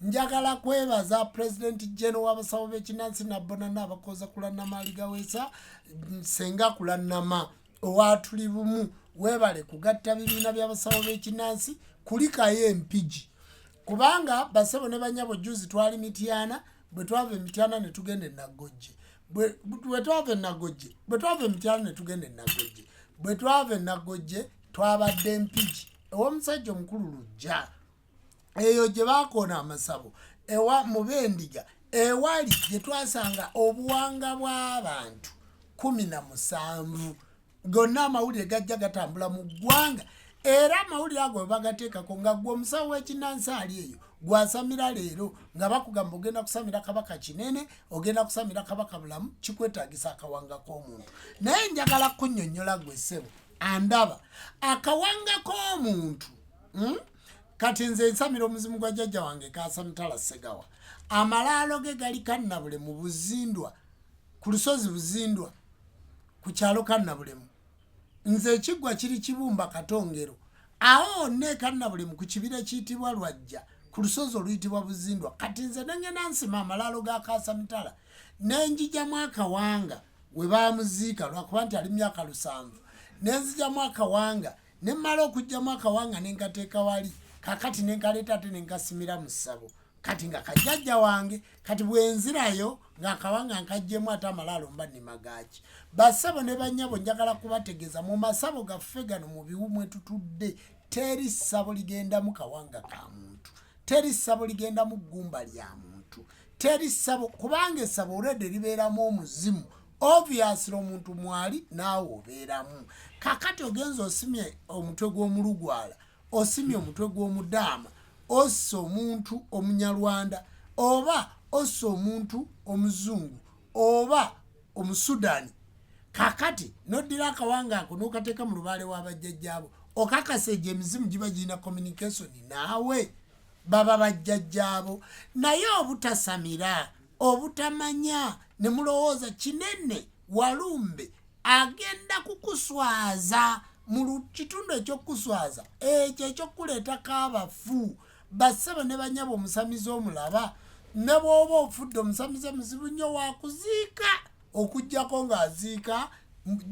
njagala kwebaza president general w'abasawo b'ekinansi nabbonana abakooza kulannamaali gaweesa senga kulannama owatuli bumu weebale kugatta bibiina by'abasawo b'ekinansi kulikayo empigi kubanga basebo ne banyabo juzi twali mityana bwe twava emityana ne tugenda enaggojje bwe twava enaggojje bwe twava emityana ne tugenda enaggojje bwe twava enaggojje twabadde empigi ew'omusajja omukulu lujja eyo gye baakoona amasabo ewa mu b'endiga ewali gye twasanga obuwanga bw'abantu kumi na musanvu gonna amawulire gajja gatambula mu ggwanga era amawulire ago we bagateekako nga gwe omusawo w'ekinnansi ali eyo gwasamira leero nga bakugamba ogenda kusamira kabaka kinene ogenda kusamira kabaka bulamu kikwetagisa akawanga k'omuntu naye njagala kunyonyola gwe ssebo andaba akawanga k'omuntu hmm? kati nze ensamira omuzimu gwa jjajja wange kasamutala segawa amalaalo ge gali kannabule mu buzindwa ku lusozi buzindwa ku kyalo kannabulemu nze ekiggwa kiri kibumba katongero awo neekannabulemu ku kibira ekiyitibwa lwajja ku lusozi oluyitibwa buzindwa kati nze nengenda nsima amalaalo ga kasamutala nenjijamu akawanga we baamuziika lwakuba nti ali mu myaka lusanvu ne nzijamu akawanga ne mmala okugyamu akawanga ne nkateeka wali kakati ne nkaleeta ate ne nkasimira mu ssabo kati nga kajjajja wange kati bwenzirayo ng'akawanga nkajjemu ate amalaalo mba nemagaaki basabo ne bannyabo njagala kubategeeza mu masabo gaffe gano mu biwu mwe tutudde teri ssabo ligendamu kawanga ka muntu teri ssabo ligendamu ggumba lya muntu teri ssabo kubanga essabo olwedde libeeramu omuzimu obviously omuntu mwali naawe obeeramu kakati ogenza osimye omutwe gw'omulugwala osimye omutwe gw'omudaama ossa omuntu omunyarwanda oba ossa omuntu omuzungu oba omusudani kakati noddira akawanga ako nokateeka mu lubaale w'abajjajjaabo okakasa egyo emizimu giba girina communication naawe baba bajjajjaabo naye obutasamira obutamanya ne mulowooza kinene walumbe agenda kukuswaza mu kitundu ekyokukuswaza ekyo ekyokukuleetako abafu bassebo ne banyabo omusamize omulaba ne bwoba ofudde omusamize muzibu nnyo wakuziika okugyako ng'aziika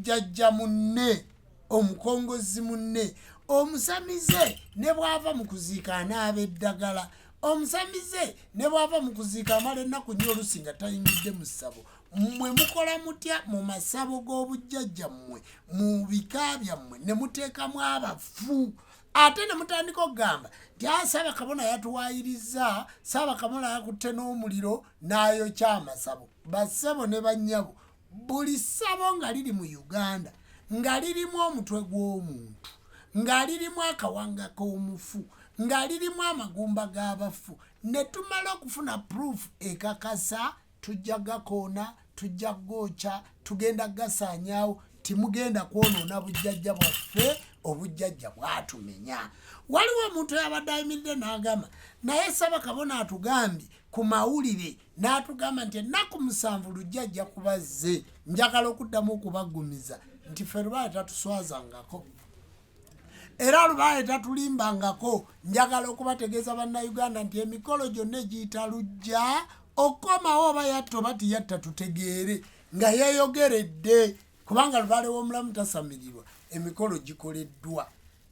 jajja munne omukongozzi munne omusamize ne bw'ava mu kuziika anaaba eddagala omusamize ne bw'ava mu kuziika amala ennaku nyo olusi nga tayingidde mu ssabo mmwe mukola mutya mu masabo g'obujjajja mmwe mu bika byammwe ne muteekamu abafu ate ne mutandika okugamba nti a ah, saabakabona yatuwayiriza saabakabona yakutte n'omuliro n'ayokya amasabo bassebo ne bannyabo Buli ssabo nga liri mu Uganda nga lirimu omutwe gw'omuntu, nga lirimu akawanga k'omufu, nga lirimu amagumba g'abafu, ne tumala okufuna proof ekakasa, tujja gakoona, tujja gookya, tugenda gasaanyaawo, timugenda kwonoona bujjajja bwaffe, obujjajja bwatumenya. Waliwo omuntu eyabadde ayimiridde n'agamba, naye Ssabakabona atugambye ku mawulire, n'atugamba nti ennaku musanvu lujja ajja kuba zze njagala okuddamu okubaggumiza nti ffe lubaale tatuswazangako era lubaale tatulimbangako njagala okubategeeza bannayuganda nti emikolo gyonna egiyita lujja okukomawo oba yatta oba tiyatta tutegeere nga yeeyogeredde kubanga lubaale w'omulamu tasamirirwa emikolo gikoleddwa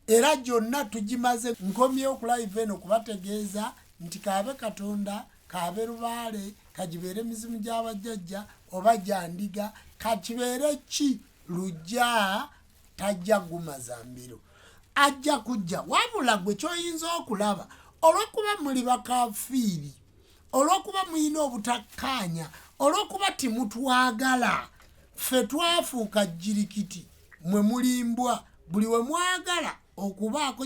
era gyonna tugimaze nkomyewo okulayiveno okubategeeza nti kaabe katonda kaabe lubaale kagibeere mizimu gya bajjajja oba gya ndiga kakibeere ki lujja tajja gumaza mbiro ajja kujja wabula gwe kyoyinza okulaba olwokuba muli bakafiiri olwokuba mulina obutakkaanya olwokuba timutwagala ffe twafuuka jirikiti mwe mulimbwa buli we mwagala okubaako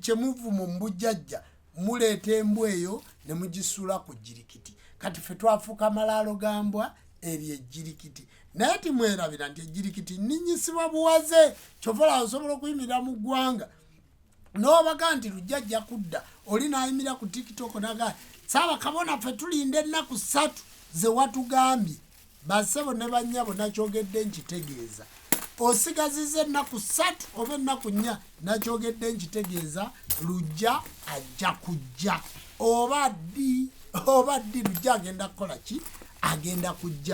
kyemuvuma omubujjajja muleeta embwa eyo ne mugisula ku jirikiti kati ffe twafuuka malaalo ga mbwa eryo ejjirikiti naye timwerabira nti ejjirikiti ninyisibwa buwaze kyovola osobola okuyimirira mu ggwanga nobaga nti lujja ajja kudda oli nayimira ku tiktok naga saaba kabona ffe tulinda ennaku ssatu zewatugambye bassebo ne bannyabo nakyogedde nkitegeeza osigaziza ennaku ssatu oba ennaku nnya nakyogedde nkitegeeza lujja ajja kujja oba ddi oba ddi lujja agenda kukola ki agenda kujja